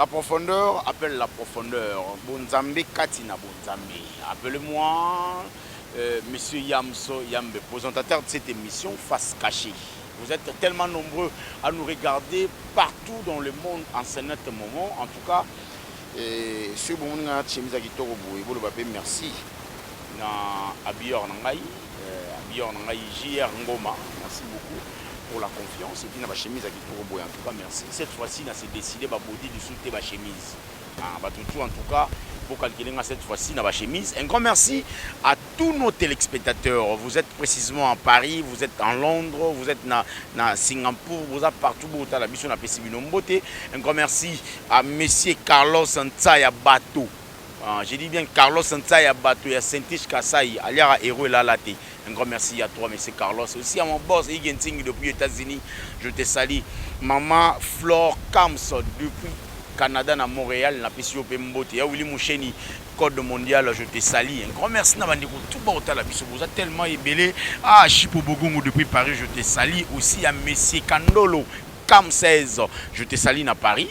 La profondeur appelle la profondeur, bonzambe kati na bonzambe. Appelez moi euh, Monsieur Yamso Yambe, présentateur de cette émission Face Cachée. Vous êtes tellement nombreux à nous regarder partout dans le monde en ce net moment. En tout cas, euh, ce bon chemise à kitoko boye bolo bape merci na habilleur na ngai Habilleur na ngai JR Ngoma merci beaucoup pour la confiance et puis na ba chemise ya kitoko boye en tout cas merci cette fois ci na se decider ba body lisusu te ba chemise ah ba tutu en tout cas bo calculer nga cette fois ci na ba chemise un grand merci à tous nos téléspectateurs vous êtes précisément à Paris vous êtes en Londres vous êtes na na Singapour vous êtes partout bo tala biso na pesi bino mbote un grand merci à monsieur Carlos Ntsaya Bato Ah, je dis bien Carlos Nsaya bato ya Saint-Ish Kasaï aliaka héros elala te. Un grand merci à toi monsieur Carlos. Aussi à mon boss Ige Ntingi depuis États-Unis. Je te salue. Maman Flore Kams depuis Canada na Montréal na pesi yo pe mbote. Ya Willy Musheni code mondial je te salue. Un grand merci na bandeko tout ba otala biso boza tellement ebele. Ah Chipo Bogungu depuis Paris je te salue. Aussi à monsieur Kandolo Kams 16 je te salue na Paris.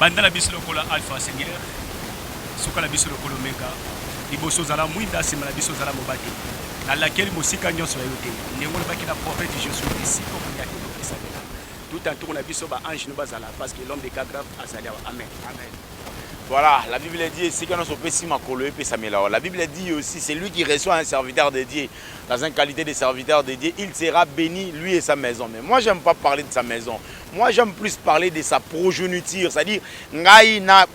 Banda na biso lokola Alpha Seigneur, suka na biso lokola Omega. Liboso ozala mwinda, nsima na biso ozala mobate. Nalakeli mosika nyonso ya yo te, ndenge olobaki na prophète Josué, esika okoyaki okokesanela. Tout entour na biso ba ange no bazala parce que l'homme de cas grave azali awa. Amen. Amen. Voilà, la Bible a dit, et si se peut si makolo et La Bible a dit aussi, c'est lui qui reçoit un serviteur de Dieu, dans une qualité de serviteur de Dieu, il sera béni, lui et sa maison. Mais moi, j'aime pas parler de sa maison. Moi j'aime plus parler de sa progeniture, c'est-à-dire ngai na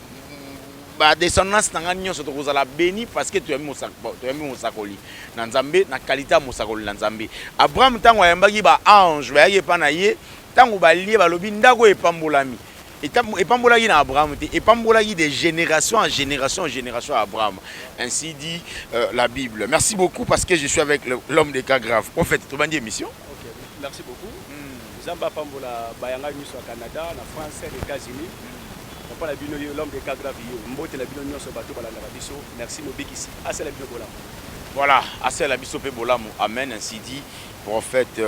ba descendance na ngai nyonso tokozala beni parce que toyambi mosakoli na Nzambe na kalite ya mosakoli na Nzambe. Abraham ntango ayambaki ba ange bayaki epai na ye, ntango balie balobi ndako epambolami epambolaki na Abraham te, epambolaki de génération en génération en génération ya Abraham. Ainsi dit euh, la Bible. Merci beaucoup parce que je suis avec l'homme de cas grave. Prophète, tobandi émission. Okay. Merci beaucoup. Nzambe apambola bayanga nyonso ya Canada, na France, na Etats-Unis. Papa na bino ye l'homme de Kagra Vieux. Mbote na bino nyonso bato balandaka biso. Merci mobikisi asala bino bolamu. Voilà, asala biso pe bolamu. Amen ainsi dit prophète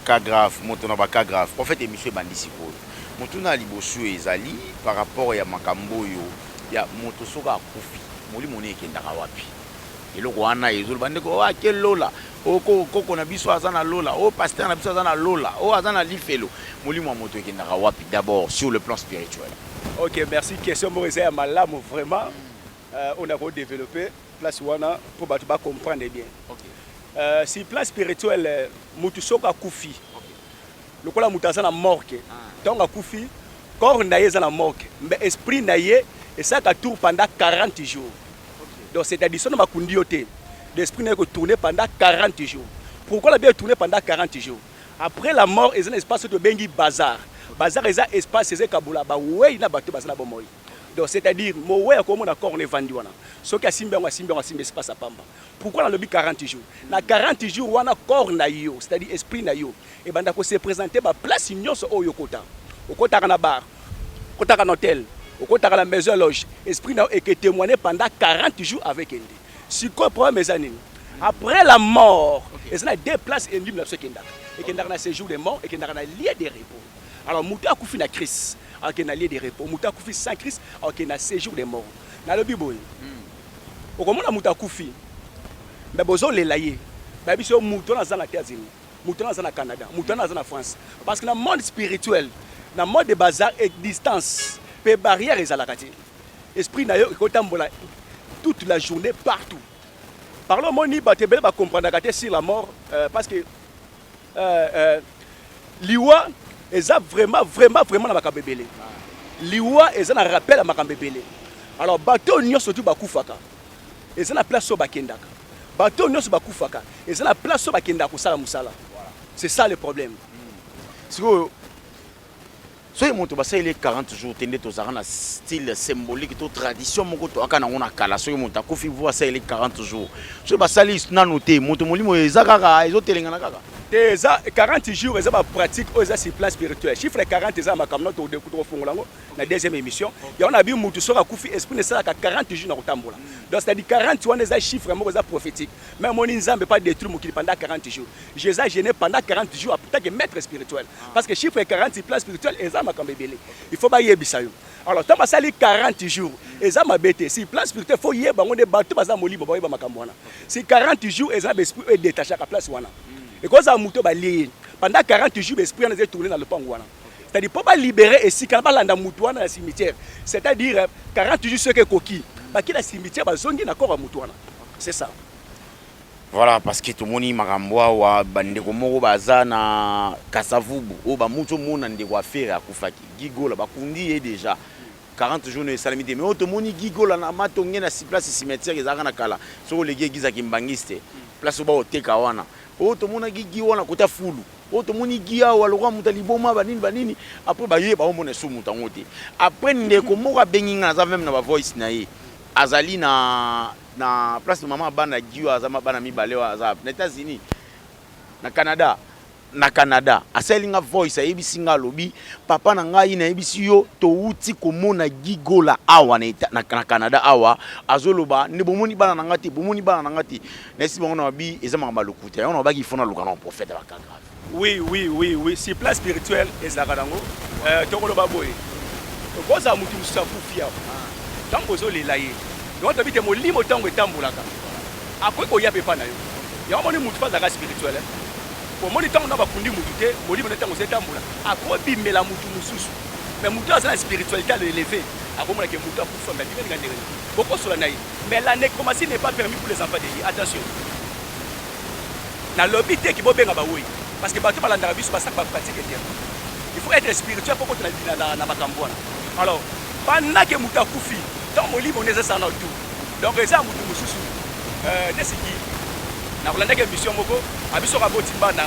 Kagrave moto na ba Kagrave. Prophète emission ebandi sikoyo. Motuna ya liboso ezali par rapport ya makambo oyo ya moto soki akufi molimo ne ekendaka wapi? Eloko wana ezo ba ndeko oyo ake lola oyo koko koko na biso aza na lola oyo pasteur na biso aza na lola oyo aza na lifelo molimo ya moto ekendaka wapi d'abord sur le plan spirituel Ok, merci. Question moko eza ya malamu vraiment. Euh, on a ko développer place wana pour bato ba comprendre bien. okay. Euh, sur plan spirituel, euh, mutu soko akufi, Lokola mutu aza na morgue tango akufi corps naye eza na morgue mais esprit naye esalaka tour pendant 40 jours donc c'est à dire soki bakundi yo te donc esprit naye eko tourner pendant 40 jours pourquoi nabi e tourner pendant 40 jours après la mort eza na espace oyo tobengi bazar bazar eza espace eza ekabola ba weyi na bato baza na bomoi donc c'est à dire moweyi akomona corps na evandi wana soki asimbi yango asimbi yango asimbi espace ya pamba pourquoi nalobi 40 jours na 40 jours wana corps nayo c'est à dire esprit nayo Ebanda ko se presenter ba places nionso oyo okota. Okotaka na bar, okotaka na hotel, okotaka na maison loge, esprit na yo eke temoigner pendant 40 jours avec ende. Sikoyo problème eza nini? Après la mort, eza na deux places elimo na biso ekendaka. Ekendaka na sejour de mort, ekendaka na lieu de repos. Alors mutu akufi na Christ, akende na lieu de repos. Mutu akufi sans Christ, akende na sejour de mort. Nalobi boye. Okomona mutu akufi, mais bozolela ye. Bayebi biso mutu wana azanga te azemi. Moto wana aza na Canada, moto wana aza na France. Parce que na monde spirituel, na monde de bazar et distance, pe barrière ezalaka te. Esprit na yo ekotambola toute la journée partout. Par là omoni bato ebele ba comprendaka te sur la mort euh, parce que euh, euh, liwa eza vraiment vraiment vraiment na makambo ebele. Liwa eza na rappel ya makambo ebele. Alors bato nyonso tu bakufaka. Eza na place oyo bakendaka. Bato oyo nionso bakufaka eza na place oyo bakendaka kosala mosala. C'est ça le problème. Sikoyo soki moto basaleli ye 40 jours te nde tozalaka na style symbolique to tradition moko toyaka nango na kala soki moto akufi vo asaleli 40 jours soki basali nano te moto molimo eza kaka ezotelengana kaka te eza 40 jours eza bapratique oyo eza sur plan spirituel chiffre 40 eza makambo na tokofongola yango na deuxième émission yango na bi mutu soki akufi esprit ne esalaka 40 jours na kotambola donc c'est-à-dire 40 wana eza chiffre moko eza prophétique mais moni nzambe pas détruire mokili pendant 40 jours jésus a gêné pendant 40 jours tant que maître spirituel parce que chiffre 40 plan spirituel eza makambo ebele il faut bayebisa yo alors ntango basali 40 jours eza mabe te si plan spirituel faut yeba yango nde bato baza molimo bayeba makambo wana si 40 jours eza baesprit oyo edetachaka place wana ekozala moto balie ye pendant 40 jours baesprit wana eza etourne na lopango wana c'est-à-dire mpo balibere esika balanda motu wana na cimetière c'est-à-dire 40 jours soki ekoki baki na cimetière bazongi na corps ya motu wana c'est ça voilà parce que tomoni makambo awa bandeko moko baza na kasavubu oyo bamuti omona ndeko afere akufaki gigola bakundi ye déjà 40 jours esalami te mais oyo tomoni gigola na matonge na place cimetière ezalaka na kala soki oleki egiza kimbangiste place oyo baoteka wana oyo tomonaki gi wana kota fulu Oh tomoni gi awa lokola moto ya liboma banini banini apres baye baomona esu moto yango te apres ndeko moko abengi ngai naza meme na bavoice na ye azali na na place mama abana gi oyo aza mabana mibale oyo aza na etats-unis na canada na canada asaleli nga voice ayebisi nga alobi papa na ngai nayebisi yo towuti komona gigola awa na, na, na canada awa azoloba nde bomoni bana na nga te bomoni bana na nga te Nesi bango na babi eza makambo ya lokuta yango na babaki ifo naluka na baprofete ya bakaka oui oui oui oui si place spirituelle ezalaka nango euh, tokoloba boye okozala motu mosusu akufi awa ntango ozolela ye yango toyebi te molimo ntango etambolaka akoki koya mpe epai na yo yango omoni motu mpe azalaka spirituel eh. omoni ntango na bakundi motu te molimo na ntango ozo etambola akobimela motu mosusu me motu aza na spiritualité alo eleve akomonake motu akufa me abimeli nga ndenge bokosola na ye Mais la necromancie n'est pas permis pour les enfants de Dieu. Attention. Nalobi te ki bobenga baoyi. Parce que bato balandaka biso basaka ba pratique te. Il faut être spirituel pour kotela na, na, na makambo wana. Alors, pendant que moto akufi, ntango molimo neza sana tu. Donc eza moto mosusu. Euh, nesiki nakolandaki émission moko abiso kaboti bana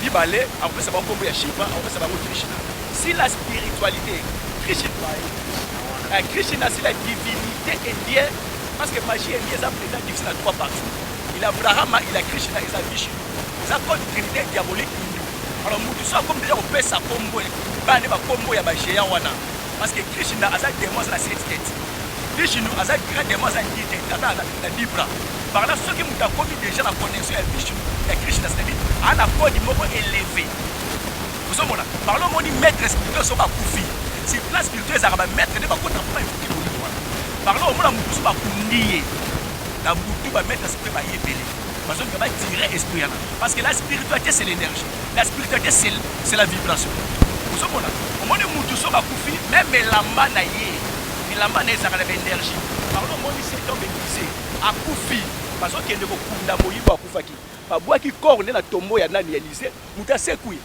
mibale akopesa bango nkombo ya shiva akopesa bango krishna si la spiritualité krishna Eh, Christian asi la divinité indien parce que magie indien eza mpenza divise na trois parties il a abrahama il a krishna eza vishnu eza code trinité diabolique hindu alors motu so akomi deja kopesa kombo bana nde bakombo ya bagéant wana parce que krishna aza demo aza na setiketi vishnu aza grand demo aza ndite tata na libra par là soki moto akomi deja na connexion ya vishnu ya krishna c'est-à-dire ana code moko éleve Ozo mona par là omoni maitre spirituel soki akufi sur place spirituel ezalaka ba maitre nde bakota po ba invoquer molimo wana par là omona mutu mosusu bakundi ye na butu ba maitre spirituel baye ebele bazonga ba tire esprit yana parce que la spiritualité c'est l'énergie la spiritualité c'est c'est la vibration ozo mona omoni mutu soki akufi meme elamba na ye elamba na ye ezalaka na ba energie par là omoni cet homme épuisé akufi bazokende kokunda moyibi akufaki babwaki corps nde na tombeau ya nani ya Elysee Mutu asekwi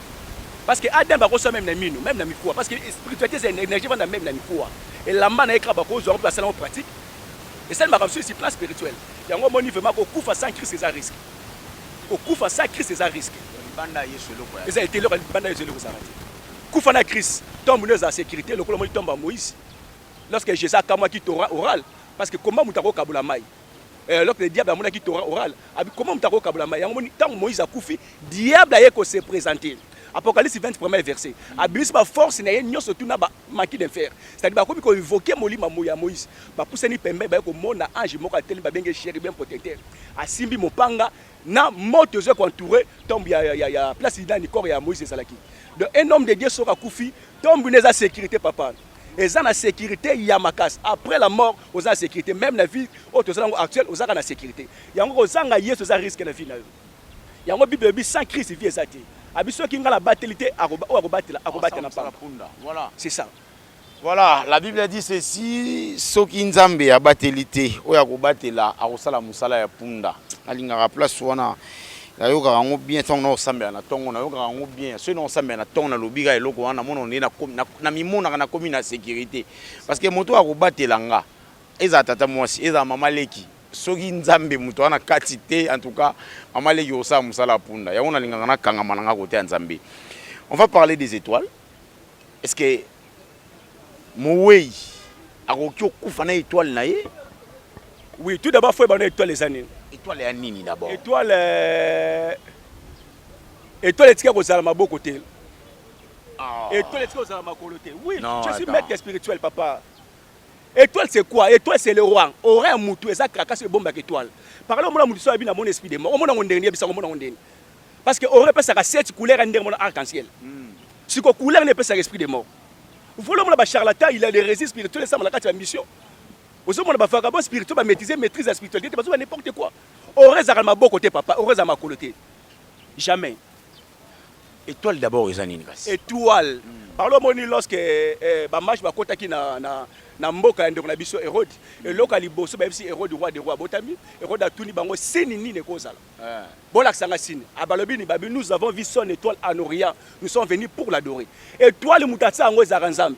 parce que Adam akosa meme na mino meme na mikuwa parce que spiritualité c'est énergie vanda meme na mikuwa elamba na ye kaka bakozwa yango basala yango pratique esali makambo sur plan spirituel yango omoni vraiment kokufa sans Christ eza risque kokufa sans Christ eza risque libanda Yesu eloko eza ete eloko libanda Yesu eloko ezalaka te kufa na Christ tombe nde eza sécurité lokola omoni tombe ya Moïse lorsque Jésus akamwaki Torah oral parce que koma moto akokabola mai Eh, alors que le diable amonaki Torah oral, abi comment moto akokabola mai yango? Moni ntango Moïse akufi, diable aye ko se présenter Apocalypse 20 premier verset abimisi ba force na ye nyonso tuna ba maki de fer c'est-à-dire bakomi ko invoquer molima ya Moïse bapusani pembeni baye komona ange moko atelemi babenge chérubin protecteur asimbi mopanga na moto ezwa koentoure tombe ya, ya, ya, ya place nani corps ya Moïse ezalaki donc un homme de Dieu soki akufi tombe neza sécurité papa eza na securite ya makasi après la mort oza na securite meme na vie oyo toza nango actuel ozaka na securite yango kozanga yesu eza risque na vie na yo yango bible elobi sans christ vie eza te abi soki ngai nabateli te oyo akobatela akobatela na pamba voilà c'est ça Voilà, la Bible a dit ceci, soki nzambe abateli te oyo akobatela akosala mosala ya punda alingaka place wana Nayokaka yango bien ntango nao sambela na ntongo, nayokaka yango bien soki nao sambela na ntongo, nalobi kaka eloko wana, namonaka ndenge nakomi, namimonaka nakomi na securite parce que moto oyo akobatela nga ezala tata mwasi, ezala mama leki, soki Nzambe moto wana kati te, en tout cas mama leki okosala mosala ya punda, yango nalingaka nakangama na nga kote ya Nzambe. On va parler des etoiles, est-ce que Moweyi akoki okufa na etoile na ye? Oui, tout d'abord faut yeba na etoile eza nini. Etoile ya nini d'abord? Etoile euh, etoile etika kozala maboko te. Ah. Etoile etika kozala makolo te. Oui, non, je suis attends. maître spirituel papa. Étoile c'est quoi Étoile c'est le roi. Aura ya mutu eza krakas ebombaka étoile. Par là omona mutu so abi na mona esprit de mort. Omona ngo ndenge yebisa omona ngo ndenge. Parce que aura epesaka sept couleurs ya ndenge mona arc-en-ciel. Mm. Siko couleur ne pesaka esprit de mort. Volo mona ba charlatan il a des résists spirituels esama na kati ya mission. Ozo mona ba vagabonds spirituels ba maîtriser maîtrise ya spiritualité bazo ba n'importe quoi. Aura ezaka maboko te papa, aura za makolo te. Jamais. Etoile d'abord eza nini kasi? Etoile. Mm. Par le moni lorsque eh, eh, ba match ba kota ki na na na mboka ya ndeko na biso Hérode, mm. eloka liboso ba yebisi Hérode roi de roi botami, Hérode atuni bango seni nini ekozala. Bolakisa nga signe. Abalobi ni babi nous avons vu son étoile en orient. Nous sommes venus pour l'adorer. Étoile mutatsa yango ezaka Nzambe.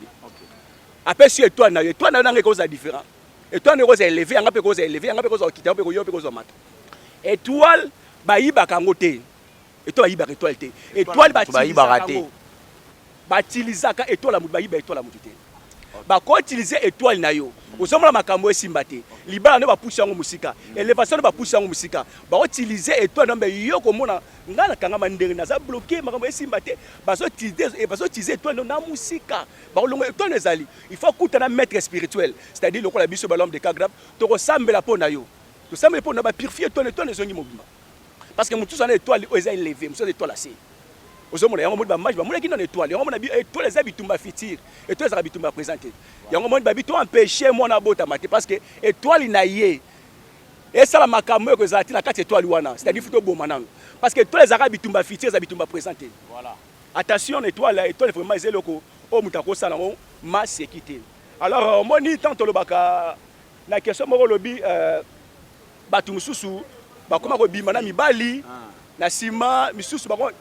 Apesi étoile na yo. Étoile na yo nanga ekoza différent. Étoile na yo ekoza élevé, yanga pe koza élevé, yanga pe koza okita, pe koyo pe koza mata. Étoile bayibaka yango te. Étoile bayibaka étoile te. Étoile batilizaka yango. Batilizaka étoile ya mutu bayiba étoile ya mutu te. bako utiliser etoile na yo ozomona makambo esimba te libala nde bapusi yango mosika elevation nde bapusi yango mosika bako utiliser etoile na mbe yo komona ngai nakangama ndenge naza bloke makambo esimba te bazo utiliser etoile na mosika bakolongo etoile ezali il faut akuta na maître spirituel c'est-à-dire lokola biso balombe de cagrab tokosambela mpo na yo tosambeli mpo na bapurifie etoile etoile ezongi mobimba Parce que mutu zana étoile oyo eza eleve, mutu eza étoile ase. Ozo mona yango moni ba mage ba mona kino na étoile. Yango mona bi étoile eza bitumba futur. Étoile eza bitumba présent te. Yango moni ba bitu empêcher mwana bota mate parce que étoile na ye esala makambo oyo ekozala te na kati étoile wana. C'est-à-dire futo boma nanu. Parce que étoile eza bitumba futur eza bitumba présent te. Voilà. Attention na étoile, étoile vraiment eza eloko oyo mutu akosala ngo ma sécurité. Alors moni tant tolobaka na question moko lobi euh, Batu mususu bakoma kobima na mibali ah. na sima misusu bako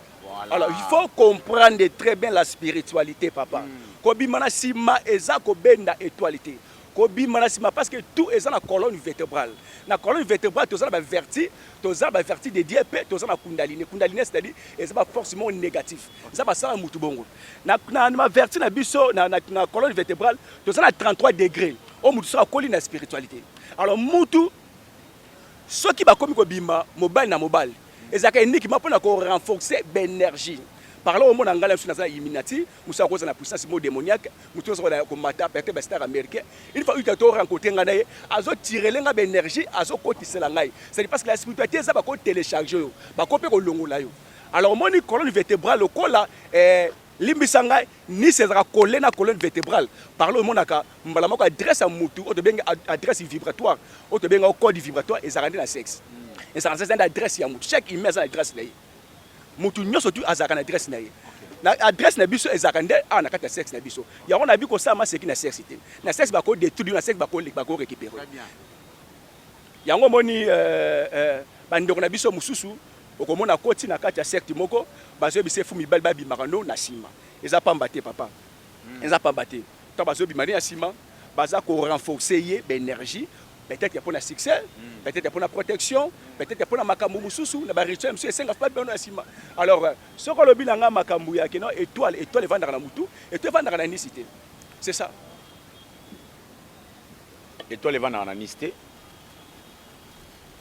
alors il faut comprendre très bien la spiritualité papa hmm. kobima na sima eza kobenda étoile te kobima na sima parce que tout eza na colonne vertébrale na colonne vertébrale toza na baverti toza na baverti de dieu mpe toza na kundaline kundaline c'est-à-dire eza baforce moko négatif eza basala motu bongo na baverti na biso na colonne vertébrale toza na 33 degré oyo motu soki akoli na spiritualité Alors mutu soki bakomi kobima mobali na mobali ezalaka eniki ma mpona ko renforcer b'energie parla omona ngai biso naza illuminati mosu akoza na puissance mo démoniaque motu nyonso na komata perte bastar américain une fois uta to rencontre ngai na ye azotirele ngai baénergie azokotisela ngai cest parce que la spiritualité eza bakotelecharge yo bako mpe kolongola yo alors omoni colonne vertébrale lokola eh, Limbisa ngai, Nice ezalaka colle na colonne vertebrale par là omonaka mbala moko adresse ya mutu oyo tobengi adresse vibratoire oyo tobengi yango code vibratoire ezalaka nde na sexe ezalaka nde adresse ya mutu chaque humain aza na adresse na ye mutu nyonso tu azalaka na adresse na ye na adresse na biso ezalaka nde awa na kati ya sexe na biso yango na bi kosala maseki na sexe te na sexe bako detruire na sexe bako récupérer Yango omoni eh, eh, bandeko na biso mosusu okomona akoti na kati ya secte moko bazoyebisa efu mibali babimaka no na nsima eza pamba te papa hmm. eza pamba te to bazobima ne ya nsima baza ko renforcer ye baenergie peut-être mpo na succès hmm. peut-être mpo na protection peut-être mpo na makambo mosusu na barituel mosusu esenga fpa bino na nsima alors euh, soki olobi na ngai makambo ya kino étoile étoile evandaka na motu étoile evandaka na nisi te c'est ça Etoile evandaka na Nice te.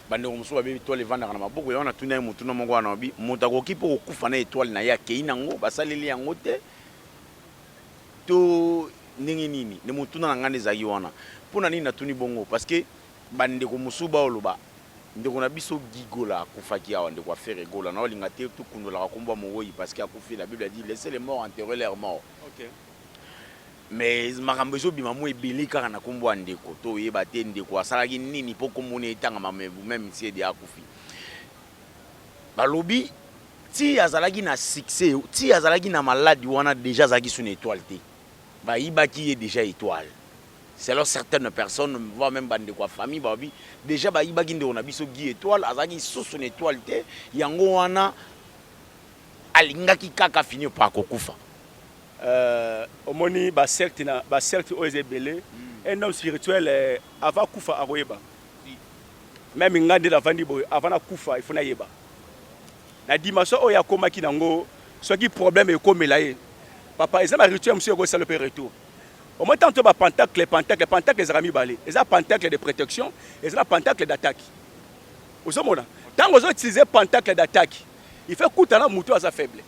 Bandeko mosusu babi etoile evandaka na maboko. Yango natuna ye motuna moko wana obi moto akoki mpo kokufa na etoile na ye akei nango basaleli yango te to ndenge nini? Nde motuna na ngai nde ezalaki wana. Mpo na nini natuni bongo? Parce que bandeko mosusu baoloba ndeko na biso Guy Gola akufaki awa, ndeko Afere Gola, naolinga te tokundolaka nkombo ya mowei parce que akufi, la Bible a dit laissez les morts enterrer leurs morts. Okay. Mais makambo ezo bima mua ebele kaka na kombo ya ndeko to yeba te ndeko asalaki nini po kombo ne etangama mais vous meme si edi akufi balobi ti azalaki na succès ti azalaki na malade wana deja azalaki sous na etoile te bayibaki ye deja etoile selon certaines personnes voire même bandeko ya famille balobi deja bayibaki ndeko na biso Guy Etoile azalaki lisusu na etoile te yango wana Alingaki kaka afinir po akokufa. Euh omoni ba secte na ba secte oyo eza ebele un homme spirituel avant akufa akoyeba meme nga nde navandi boye avant nakufa il faut nayeba na dimension oyo akomaki nango soki problème ekomela ye papa eza ba rituel mosusu ekosala mpe retour omoni tanto ba pentacle pentacle pentacle ezalaka mibale eza pentacle de protection eza na pentacle d'attaque ozomona ntango ozo utiliser pentacle d'attaque Il faut kuta na mutu aza faible.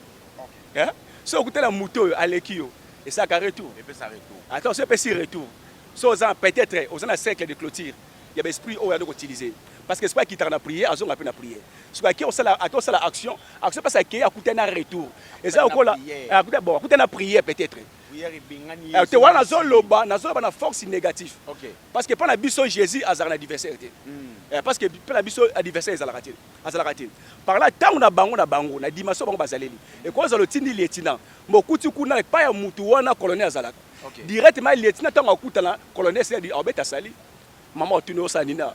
Hein? So okuta na mutu oyo aleki yo, esaka retour. Epesa retour. Attends, so epesi retour. So oza peut-être oza na cercle de clôture ya ba esprit oyo ando ko utiliser. Parce que esprit akitaka na prière, azonga pe na prière. Soki ake osala ake osala action, action pesa ake akuta na retour. Eza okola akuta bon, akuta na prière peut-être. Prière ebengani Yesu. Te wana nazo loba, nazo loba na force négative. Okay. Parce que pa na biso Jésus azalaka na adversaire te. Mm. Eh, parce que pa na biso adversaire ezalaka te. Azalaka te. Par là, tango na bango na bango, na dimension na bango bazaleli, ekoki kozala otindi lieutenant, mais okuti kuna epai ya mutu wana colonel azalaka. Directement lieutenant tango akutana, colonel esi adi, abeta salut. Mama otuni yo osala nini awa?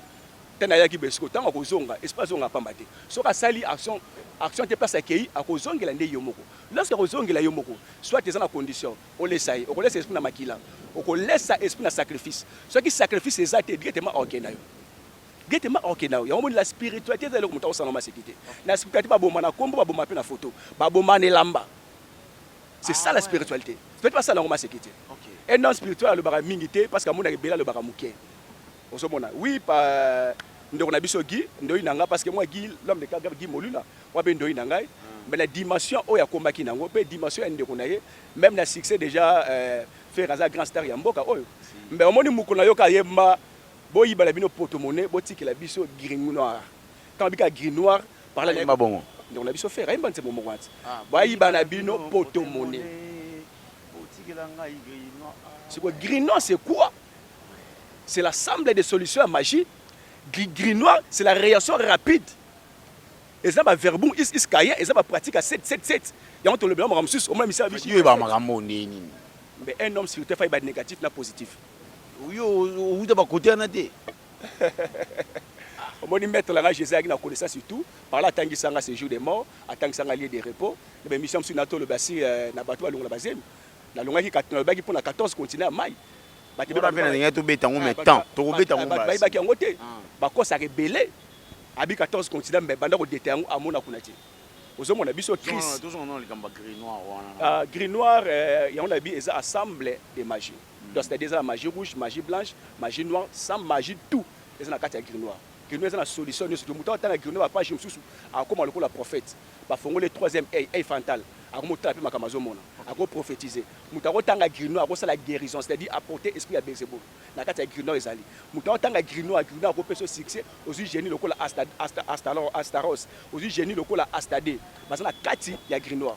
Te nayaki boye. Sikoyo tango akozonga, esprit azongaka pamba te. Soki asali action, action te place akeyi, akozongela nde ye moko. Lorsque akozongela ye moko, soit eza na condition, olesa ye. Okolesa esprit na makila, okolesa esprit na sacrifice. Soki sacrifice eza te, directement akokenda yo. Gete mba ok nayo yango moni la spiritualite eza eloko moto akosala na maseki te na spiritualite babomba na kombo babomba pe na foto babomba na elamba c'est ça la spiritualite spiritualite basala yango maseki te un homme spirituel alobaka mingi te parce que amonaka ebele alobaka moke ozomona oui pa ndeko na biso Guy ndoyi na ngai parce que moi Guy l'homme de Kagame Guy Molula moi pe ndoyi na ngai mais na dimension oyo akomaki nango pe dimension ya ndeko na ye même na succès déjà euh, Ferre aza grand star ya mboka oyo mais omoni mokolo na yo ka yemba Bo yiba na bino poto monnaie bo tikela biso gringo noir tango bika gris noir parla na yemba bongo ndeko na biso ferre ayemba nzembo moko wana ti ba yiba na bino poto monnaie bo tikela ngai gris noir sikoyo gris noir c'est quoi c'est la semble de solution ya magie gris gris noir c'est la reaction rapide eza ba verbum is is kaya eza ba pratique ya 777 yango tolobela makambo mosusu omona misala biso yo yeba makambo ndenge nini mais un homme sur terre fa yeba negatif na positif Yo owuta ba cote wana te. Omoni maitre langa Jesus ayaki na connaissance surtout par là atangisa nga séjour des morts, atangisa nga lieu de repos, na ba emission mosusu na to loba si euh, na bato balongola bazemi. Na longaki na lobaki pona 14 continent ya mai. Bato ba pena ninga to beta ngo mais ah, temps to ko beta ngo ba. Ba baki yango te. Ah. Ba kosa ke belé. Abi 14 continent mais banda ko deta yango amona kuna te. Ozo mona biso crise. Tous on a likamba gris noir wana. Ah gris noir euh, yango na bi eza ensemble de magie. Donc c'est à dire eza na magie rouge, magie blanche, magie noire, sans magie tout eza na kati ya grimoire. Grimoire eza na solution nioso donc mutu atanga grimoire ba page mususu akokoma lokola prophète ba fongoli ye troisième oeil, oeil fantale akomi kotala pe makambo azo mona ako prophetise. Mutu ako tanga grimoire ako sala guerison c'est à dire a porter esprit ya belzebul na kati ya grimoire ezali mutu ako tanga grimoire, grimoire ako pesa yo succès ozui genie lokola asta asta astalor astaros ozui genie lokola astade baza na kati ya grimoire.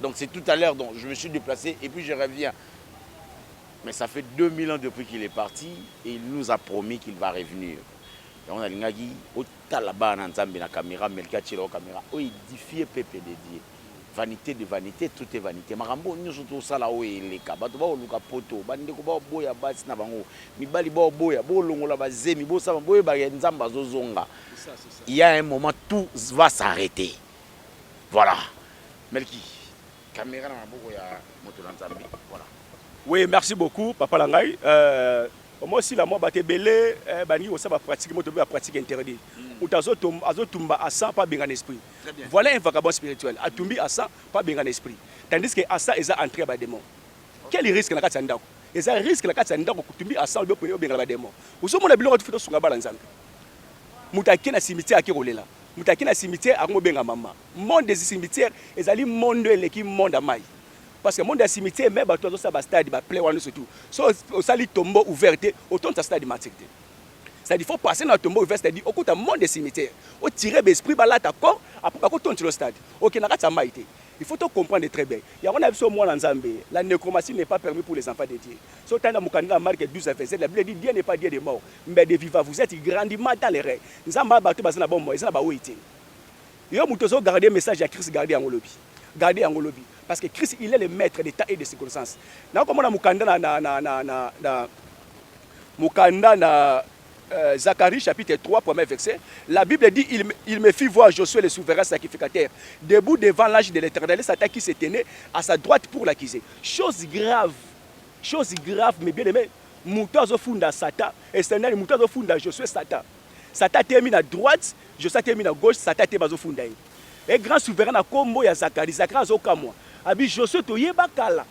Donc c'est tout à l'heure donc je me suis déplacé et puis je reviens. Mais ça fait 2000 ans depuis qu'il est parti et il nous a promis qu'il va revenir. Et on a l'ingagi au talaba na nzambe na caméra melka tshelo caméra o édifié pepe de Dieu. Vanité de vanité, tout est vanité. Marambo nyoso to sala o eleka. Bato ba oluka poto, bande ko ba boya basi na bango. Mibali ba boya, bo longola ba zemi, bo saba boye ba nzamba zozonga. Il y a un moment tout va s'arrêter. Voilà. Melki, camera na maboko ya moto na Nzambe. Voilà. Oui, merci beaucoup papa na ngai. Euh, moi si la moi baté belé eh, bani ko saba pratique moto ba pratique interdit. Ou hmm. azo tomba azo tumba à ça pas benga esprit. Voilà un vagabond spirituel. A tumbi à ça pas benga esprit. Tandis que à ça ils a entré ba démon. Quel risque na kati ndako? Ils a risque na kati ndako kutumbi à ça au benga ba démon. Ozo mona biloko tu fito sunga bala nzambe. Mutakena cimetière akerolela. Moto ake na cimetière ako benga maman. Monde des cimetières ezali monde eleki monde ya mayi. Parce que monde ya cimetière meme batu bazo sala ba stade ba play wana nionso tout. Soki osali tombeau ouvert te otonda stade martyr te. C'est à dire faut passer na tombeau ouvert c'est à dire okota monde des cimetières o tirer ba esprits ba lata corps après bako tondisa yo stade. Oke na kati ya mayi te. Il faut to comprendre très bien. Yango na biso mwana nzambe la necromancie n'est pas permis pour les enfants de Dieu. Soki otali na mokanda ya Marc 12 na verset la bible dit Dieu n'est pas Dieu des morts Mbede viva vous etes grandement dans l'erreur nzambe a batu baza na bomoi eza na ba oyo te yo mutu ozo garde message ya Chris garde yango lobi garde yango lobi parce que Chris il est le maitre de temps et de circonstance na ko mona mukanda na na na na na, na mukanda na Euh, Zacharie chapitre 3, premier verset, la Bible dit il, il me fit voir Josué le souverain sacrificateur, debout devant l'âge de l'éternel, Satan qui se tenait à sa droite pour l'accuser. Chose grave, chose grave, mais bien aimé, Mutu azo funda satan esenel mutu azo funda josue satan satan atelemi na droite josue atelemi na gauche satan atelemi azo funda ye he grand souverain na kombo ya zakari zakari azo kamua abi josue toyeba kala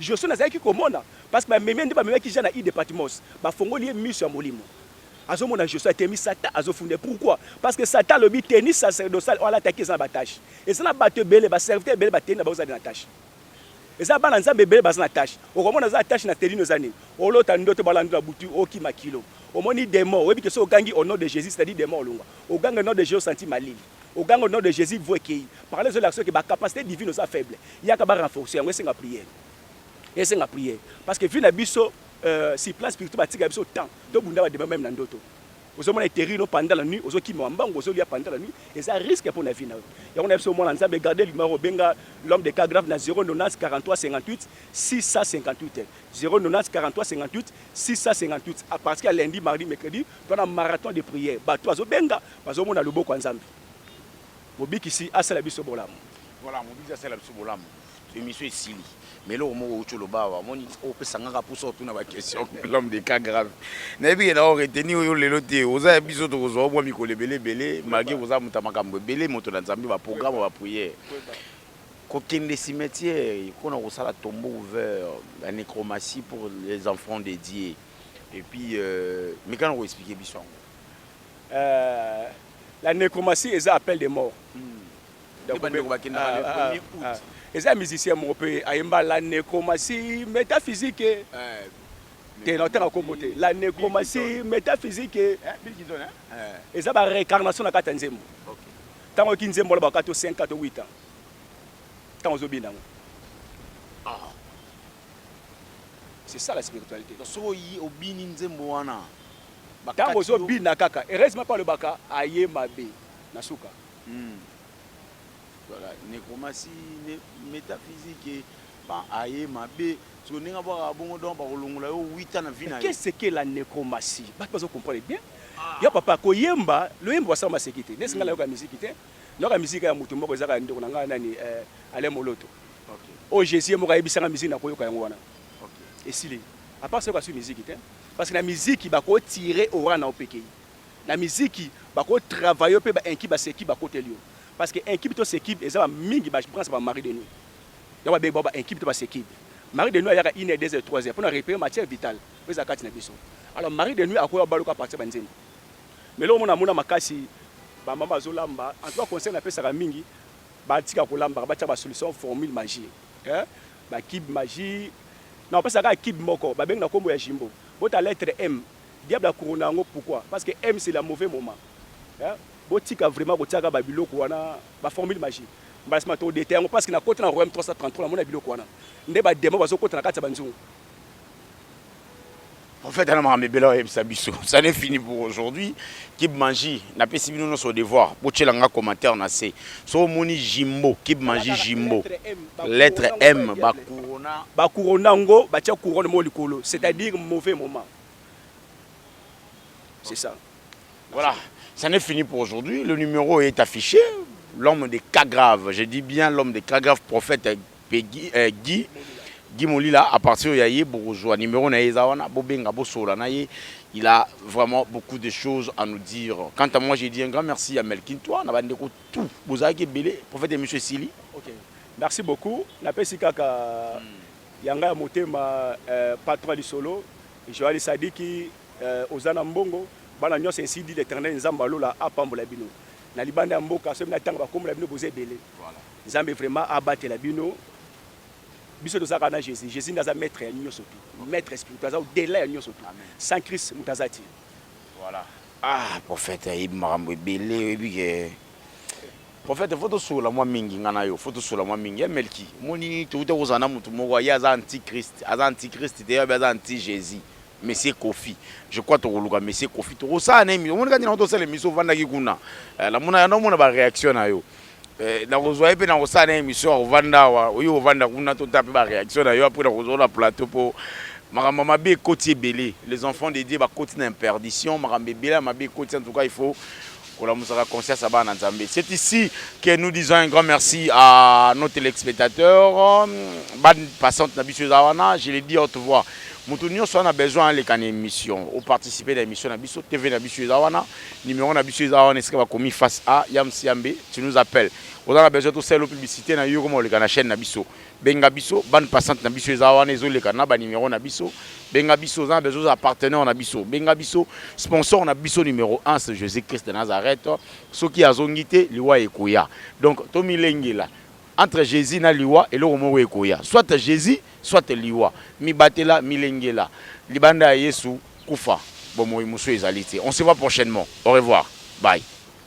josue nazalaki komona parce que ba memi ye nde ba memaki jean na ide patmos ba fongoli ye misu ya molimo azo mona josue atelemi satan azo funda ye pourquoi parce que satan alobi tenue sacerdotale oyo alataki eza na ba tache eza na batu ebele ba serviteur ebele ba tenue na bango eza nde na tache Eza bana nzambe ebele baza na tache. Okomona aza na tache na telino eza nini? Olota ndoto balandi na butu okima kilo. Omoni demon oyebi ke so ogangi au nom de Jesus c'est à dire demon olongwa. Oganga au nom de Jesus osanti malili. Oganga au nom de Jesus vue ekeyi. Par là ezolakisa yo ke ba capacite divine oza faible. Yaka ba renforcer yango esenga prière. Esenga prière. Parce que vie na biso euh, sur plan spirituel batika biso temps tobunda ba demon meme na ndoto. Ozo mona eterir no pendant la nuit ozo kima ba mbangu ozo lia pendant la nuit eza risque pona vie nayo yango nayebi biso mwana nzambe garde limaro obenga l'homme de cas grave na 090 43 58 658 090 43 58 658 à partir ya lundi mardi mercredi to na marathon de prière bato azo benga bazo mona loboko ya nzambe mobikisi asala biso bolamu voilà mobikisi asala biso bolamu Emission esili mais eloko moko outi oloba awa omoni opesa nga kaka mposa otuna baquestion l'homme de cas grave nayebi ke nao reteni oyo lelo te oza ya biso tokozwa omwa mikolo ebele ebele malgre koza moto ya makambo ebele moto na nzambe baprograme bapriere kokende cimetière mpo na kosala tombo ouvert ya necromatie pour les enfants de dieu et puis euh, mikana koexplike biso yango euh, la necromatie eza appel de mort hmm. eza musicien moko mpe ayemba la necromatie métaphysique te naotanga kombo te la necromatie métaphysique eh, eh. eza ba réincarnation na kati ya nzembo ntango oyoki nzembo olobaka to 5 to 8 ans ntango ozobina yango ah. c'est ça la spiritualité soki obini nzembo wana ntango ozobina kaka heureusement mpe alobaka aye mabe na suka Hum voilà necromancie ne metaphysique et pan aye mabe siko ndenge abwaka bongo donc bakolongola yo wita na vie na yo qu'est ce que la necromancie batu bazo comprendre bien ah. ya papa koyemba loyembo basala maseki te nesi nga hmm. nayoka miziki te nayoka miziki ya moto moko ezaka ndeko na ngai nani eh, ale moloto okay. oyo oh, jésus ye moko ayebisanga miziki nakoyoka yango wana okay. esili apart soki asui miziki te parce que na miziki bakotire ora na opekei Na miziki bako travaille yo pe ba incub ba sekib ba koteli yo parce que incub to sekib eza ba mingi ba branche ba mari de nuit yango ba bengi bango ba incub to ba sekib mari de nuit ayaka une heure deux heures trois heures pona repere matière vital oyo eza kati na biso alors mari de nuit akoya obaluka a partir ba nzembo mais eloko mona mona makasi ba mama bazo lamba en tout cas conseil na pesaka mingi ba tika ko lambaka ba tia ba solution formule magie eh ba kib magie na opesa kaka kib moko ba bengi na kombo ya jimbo bota lettre m Diable a couronna yango pourquoi? Parce que M c'est la mauvais moment hein botika vraiment kotiaka ba biloko wana ba formule magique mbala sima toko detailler yango parce que nakoti na royaume 333 namona biloko wana nde ba demon bazokota na kati ya banzungu En fait, ana makambo ebele oyebisa biso ça n'est fini pour aujourd'hui kib manji napesi bino nyonso devoir botyela nga commentaire na se so omoni jimbo kib manji jimbo Lettre M lettre M ba couronne ba couronne ngo ba tia couronne mo likolo c'est-à-dire mauvais moment c'est ça voilà ça n'est fini pour aujourd'hui le numéro est affiché l'homme de cas grave je dis bien l'homme de cas grave prophète euh, Peggy, euh, Guy Guy Molila à partir ya ye bokozwa numéro na ye eza wana bobenga bosola na ye il a vraiment beaucoup de choses à nous dire quant à moi j'ai dit un grand merci à Melkin toi na bande ko tout bozalaki ebele prophète emission esili ok merci beaucoup napesi kaka hmm. yanga ya motema euh, patron ya lisolo joali sadiki euh, oza na mbongo bana nyonso ainsi dit l'éternel nzambe alola apambola bino na libanda ya mboka soki natanga bakombo na bino boza ebele nzambe vraiment abatela bino biso tozalaka na jésus jésus nde aza maître ya nyonso tu maître spirituel aza odela ya nyonso tu sans christ moto aza ti Voilà. Ah, prophète ayebi makambo ebele, oyebi ke prophète faut tosolola mwa mingi ngai na yo, faut tosolola mwa mingi. Ya Melki, omoni touta kozala na motu moko ye aza antichrist, aza antichrist te, aza anti Jésus. Monsieur Kofi. Je crois tokoluka Monsieur Kofi. Tokosala na émission. Omoni kati na tosala émission ovandaki kuna. Eh, namona yango mona ba réaction na yo. Eh, nakozwa ye mpe nakosala na émission ya kovanda awa oyo kovanda kuna tota mpe baréaction na yo apres nakozwa na plateau mpo makambo ya mabe ekoti ebele les enfants de dieu bakoti na imperdition makambo ebele ya mabe ekoti en tout cas il faut kolamusaka conscience ya bana na nzambe c'est ici que nous disons un grand merci à nos téléspectateurs bande passante na biso eza wana je le dis haute voix moto nyonso wana besoin aleka na émission oparticipe na émission na biso tv na biso eza wana Numero na biso eza wana esika bakomi face a ya Msiambe, tu nous appelles. Oza na besoin tosala yo publicité na yo okoma oleka na chaîne na biso. Benga biso, bande passante na biso eza wana ezoleka na ba numero na biso. Benga biso, oza na besoin ozala partenaire na biso. Benga biso, sponsor na biso numero 1 c'est Jésus-Christ de Nazareth. Soki azongi te, liwa ekoya. Donc tomilengela entre Jésus na liwa eloko moko ekoya. Soit Jésus, soit liwa. Mibatela, milengela. Libanda ya Yesu Kufa, bomoyi mosusu ezali te. On se voit prochainement. Au revoir. Bye.